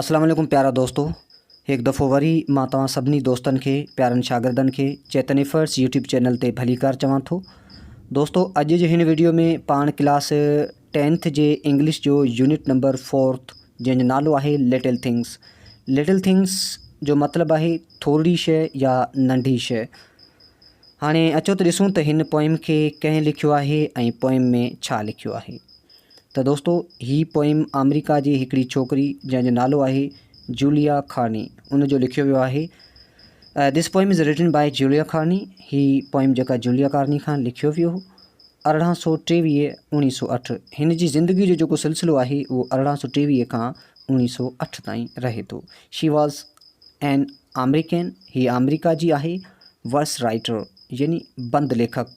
اسلام عليڪم پيارا دوستو هڪ دفعو وري مان توهان سڀني دوستن کي پيارن شاگردن کي چيتن ايفرٽس يوٽيوب چينل تي ڀليڪار چوان ٿو دوستو اڄ جي هن ويڊيو ۾ پاڻ ڪلاس ٽينٿ جي انگلش جو يونٽ نمبر فورٿ جنهن جو نالو آهي لٽل ٿنگس لٽل ٿنگس جو مطلب آهي ٿورڙي شي يا ننڍي شي هاڻي اچو ته ڏسون ته هن پوئم کي ڪنهن لکيو آهي ۽ پوئم ۾ ڇا لکيو آهي ته دوستو هي پوئيم آمريڪا جي هڪڙي ڇوڪري جنهن جو نالو آهي جوليا ڪارني ان جو لکيو ويو آهي This poem is written by Julia Carney هي پوئيم جيڪا جوليا ڪارني کان لکيو ويو هو ارڙهن سو ٽيويهه اوڻيهه سو اٺ هن جي زندگي جو جيڪو سلسلو آهي اهو ارڙهن سو ٽيويهه کان اوڻيهه سو اٺ تائين رهي ٿو شي واز اين آمريڪين هي آمريڪا جي آهي ورس رائٽر يعني بند ليکڪ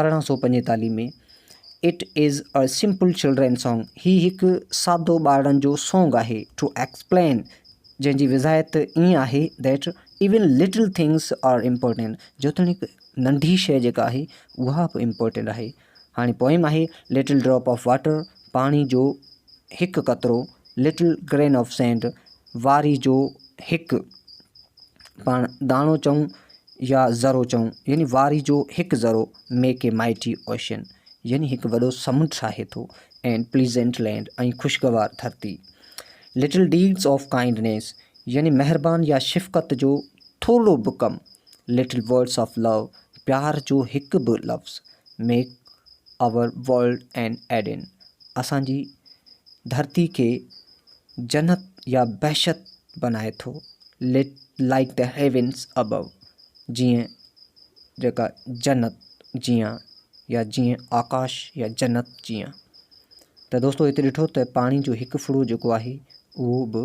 ارڙهن سؤ پنجيتاليهه ۾ it is a simple children song هي هڪ سادو ٻارڙن جو سانگ آهي ٽو ايڪسپلين جنهن جي وضاحت ائين آهي that even little things are important جيتوڻيڪ ننڍي شيء جيڪا آهي اها به امپورٽنٽ آهي هاڻي پوئم آهي لٽل ڊراپ آف واٽر پاڻي جو هڪ قطرو لٽل گرين آف سينڊ واري جو هڪ پاڻ داڻو چئون يا ذرو چئون يعني واري جو هڪ ذرو ميڪ اي مائٽي اوشين يعني هڪ وڏو سمنڊ ٺاهي ٿو اينڊ پليزنٽ لينڊ ۽ خوشگوار ڌرتي لٽل ڊيڊز آف ڪائنڊنيس يعني مهربان يا شفقت جو ٿورڙو به ڪم لٽل ورڊس آف لو پيار جو هڪ به لفظ make our world an Eden اسان جي ڌرتي کي جنت يا بهشت بنائي ٿو، Like the Heavens Above، جيئن، جيڪا، جنت جيان يا جيئن، آڪاش يا جنت جيان. ته دوستو هتي ڏٺو ته پاڻي جو هڪ ڦڙو جيڪو آهي اهو به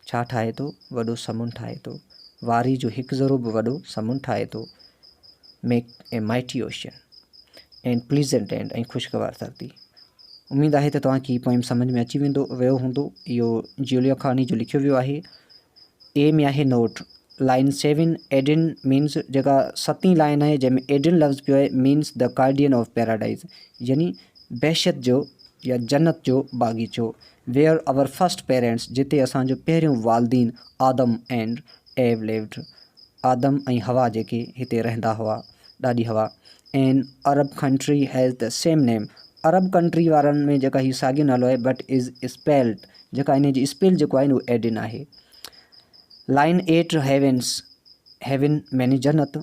ڇا ٺاهي ٿو وڏو سمنڊ ٺاهي ٿو واري جو هڪ ذرو به وڏو سمنڊ ٺاهي ٿو make a mighty ocean and pleasant and ۽ خوشگوار ڌرتي اميد آهي ته توهان کي هي پوئيم سمجهه ۾ اچي ويندو ويو هوندو. اهو جيوليو کاني جو لکيو ويو آهي. اي ۾ آهي note. Line seven Eden means جيڪا ستين لائن آهي جنهن ۾ ايڊن لفظ پيو آهي means the guardian of paradise يعني بهشت جو يا جنت جو باغيچو ويئر آور فرسٽ پيرينٽس جتي اسان جو پهريون والدين آدم اينڊ ايو ليوڊ آدم ۽ حوا جيڪي هتي رهندا هئا ڏاڏي حوا an Arab country has the same name عرب ڪنٽري وارن ۾ جيڪا هي ساڳيو نالو آهي بٽ از اسپيلٽ جيڪا ان جي اسپيل جيڪو آهي اهو ايڊن آهي line at heavens heaven mini جنت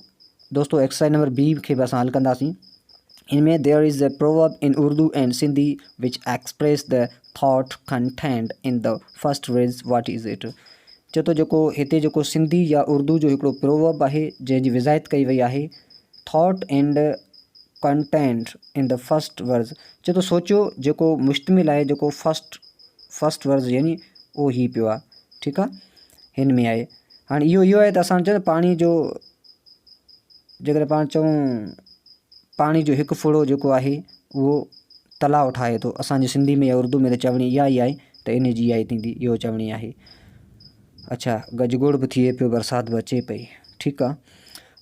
دوستو ايڪسرسائز نمبر بي کي به اسان حل ڪنداسين ان ۾ there is a proverb in Urdu and Sindhi which express the thought content in the first verse what is it چوٿو جيڪو هتي جيڪو سنڌي يا اردو جو هڪڙو پروورب آهي جنهن جي وضاحت ڪئي وئي آهي Thought and Content in the First Verse چئي ٿو سوچيو جيڪو مشتمل آهي جيڪو First First Verse يعني اهو هي پيو آهي ٺيڪ آهي هن ۾ آهي هاڻي اهو اهو آهي ته اسان چئه پاڻي جو جيڪڏهن پاڻ چئون پاڻي جو هڪ ڦڙو جيڪو آهي اهو تلاء ٺاهي ٿو اسانجي سنڌي ۾ يا اردو ۾ ته چوڻي اها ئي آهي ته ان جي اها ئي ٿيندي اهو چوڻي آهي اڇا گجگوڙ به ٿئي پيو برسات به اچي پئي ٺيڪ آ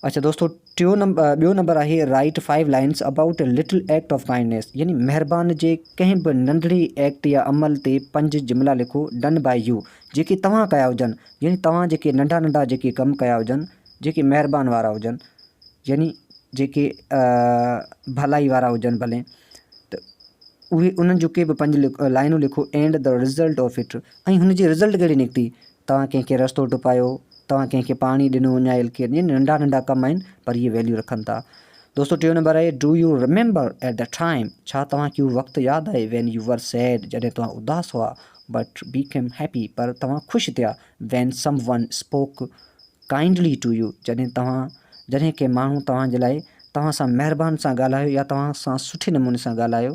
اڇا دوستو ٽيو نمبر ٻيو نمبر آهي write five lines about a little act of kindness يعني مهربان جي ڪنهن به ننڍڙي ايڪٽ يا عمل تي پنج جملا لکو ڊن بائي يو جيڪي توهان ڪيا هجن يعني توهان جيڪي ننڍا ننڍا جيڪي ڪم ڪيا هجن جيڪي مهربان وارا هجن يعني جيڪي ڀلائي وارا هجن ڀلي ته اهي انهن جون ڪي به پنج لائنون لکو and the result of it ۽ هن جي رزلٽ ڪهڙي نڪتي؟ توهان ڪنهن کي رستو ٽپايو، توهان ڪنهن کي پاڻي ڏنو يا ايل ڪيئر يعني ننڍا ننڍا ڪم آهن پر اهي ويليو رکن ٿا. دوستو ٽيون نمبر آهي do you remember at the time ڇا توهان کي اهو وقت ياد آهي وين يو ور سيڊ جڏهن توهان اداس هئا بٽ بي ڪيم هيپي پر توهان خوش ٿيا when someone spoke kindly to you جڏهن توهان جڏهن ڪنهن ماڻهو توهان جي لاء توهان سان مهربان سان ڳالهايو يا توهان سان سٺي نموني سان ڳالهايو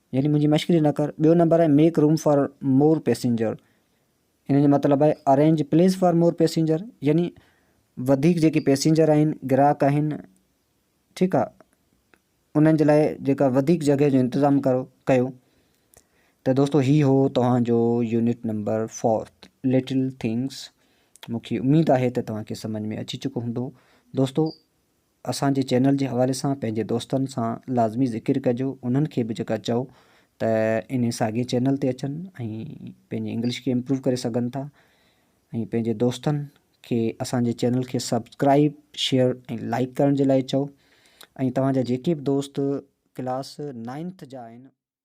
يعني منهنجي مشڪري نه ڪر. ٻيو نمبر آهي make room for more passenger ان جو مطلب آهي arrange place for more passenger يعني وڌيڪ جيڪي پيسينجر آهن گراهڪ آهن ٺيڪ آ انهن جي لاء جيڪا وڌيڪ جڳهه جو انتظام ڪرو ڪيو ته دوستو هي هو توهان جو unit number fourth little things مونکي اميد آهي ته توهان کي سمجھ ۾ اچي چڪو هوندو دوستو اسان جي چينل جي حوالي سان پنهنجي دوستن سان لازمي ذڪر ڪجو انهن کي به جيڪا چئو ته انهي ساڳي چينل تي اچن ۽ پنهنجي انگلش کي امپروو ڪري سگهن ٿا ۽ پنهنجي دوستن کي اسان جي چينل کي سبسڪرائب شيئر ۽ لائيڪ ڪرڻ جي لاء چئو ۽ توهان جا جيڪي به دوست ڪلاس نائنٿ جا آهن